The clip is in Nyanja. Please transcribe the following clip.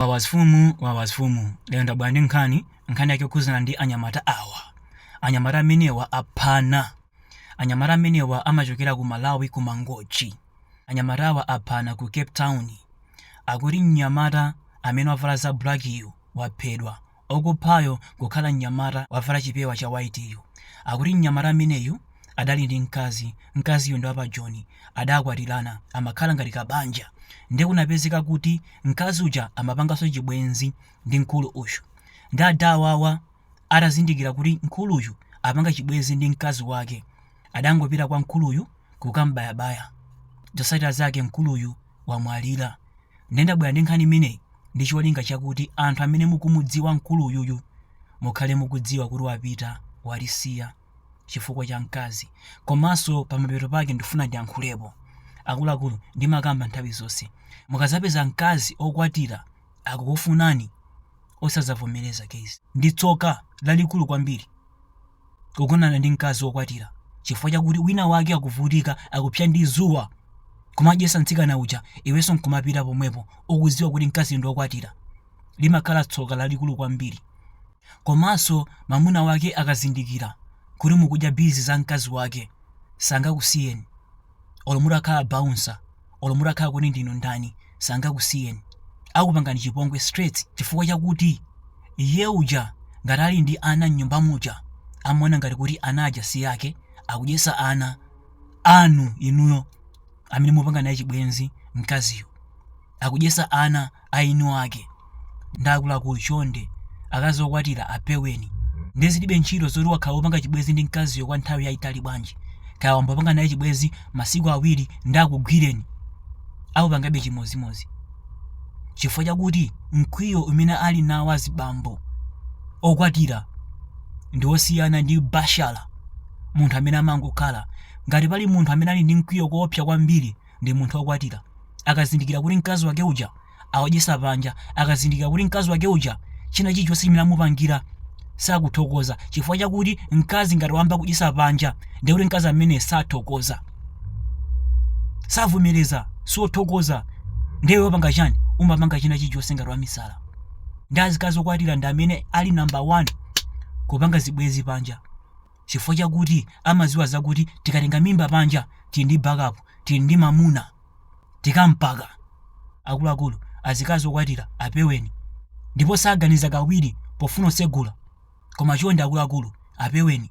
Wawa zfumu wawa zfumu lero ndabwera ndi nkhani nkhani yake yokhudzana ndi anyamata awa anyamata amenewa aphana anyamata amenewa amachokera ku Malawi ku Mangochi anyamatawa aphana ku Cape Town akuti mnyamata amene wavala za black yu waphedwa Okuphayo kukhala mnyamata wavala chipewa cha white yu. Akuti mnyamata ameneyu adali ndi mkazi, mkaziyo ndi wapa Joni, adakwatirana, amakhala ngati ka banja. Nde kunapezeka kuti mkazi uja amapanganso chibwenzi ndi mkulu uyu. Nde ada awawa atazindikira kuti mkuluyu apanga chibwenzi ndi mkazi wake, adangopita kwa mkuluyu kukambayabaya. Zosatira zake mkuluyu wamwalira. Ndiye ndabwera ndi nkhani imeneyi ndi cholinga chakuti anthu amene mukumudziwa mkuluyuyu mukhale mukudziwa kuti wapita walisiya chifukwa cha mkazi komanso pamapeto pake ndifuna ndiyankhulepo akuluakulu ndimakamba nthawi zonse mukazapeza mkazi okwatira akukufunani osazavomereza kezi ndi tsoka lalikulu kwambiri kugonana ndi mkazi wokwatira chifukwa chakuti wina wake akuvutika akupsa ndi zuwa kumadyesa mtsikana uja iwenso nkumapita pomwepo ukuziwa kuti mkazi ndi wokwatira limakhala tsoka lalikulu kwambiri komanso mamuna wake akazindikira kuti mukudya bizi za mkazi wake sangakusiyeni olo mutakhala bouncer olo mutakhala kuti ndinu ndani sangakusiyeni akupangani chipongwe straight chifukwa chakuti iye uja ngati ali ndi ana mnyumba muja amaona ngati kuti ana aja si ake akudyesa ana anu inuyo amene mupanga naye chibwenzi mkaziyo akudyesa ana aeni ake nde akuluakulu chonde akazi okwatira apeweni nde zilibe ntchito zoti wakhala wopanga chibwezi ndi mkaziyo kwa nthawi yayitali bwanji kaya wambopanga naye chibwezi masiku awiri nde akugwireni akupangabe chimodzimodzi chifukwa chakuti mkwiyo umene ali nawo azibambo okwatira ndi wosiyana ndi bashala munthu amene amangokhala ngati pali munthu amene ali ndi mkwiyo koopsa kwambiri ndi munthu wokwatira akazindikira kuti mkazi wake uja akudyesa panja akazindikira kuti mkazi wake uja china chilichonse chimene amupangira sakuthokoza chifukwa chakuti mkazi ngati wayamba kudyesa panja ndiye kuti mkazi amene sathokoza savomereza sothokoza ndiye wapanga chani umapanga china chilichonse ngati wamisala nde azikazi okwatira ndi amene ali namba 1 kupanga zibwenzi panja chifukwa chakuti amaziwa zakuti tikatenga mimba panja tili ndi backup tili ndi mamuna tikampaka akuluakulu azikazi okwatira apeweni ndipo saganiza kawiri pofuna kusegula koma chonde akuluakulu apeweni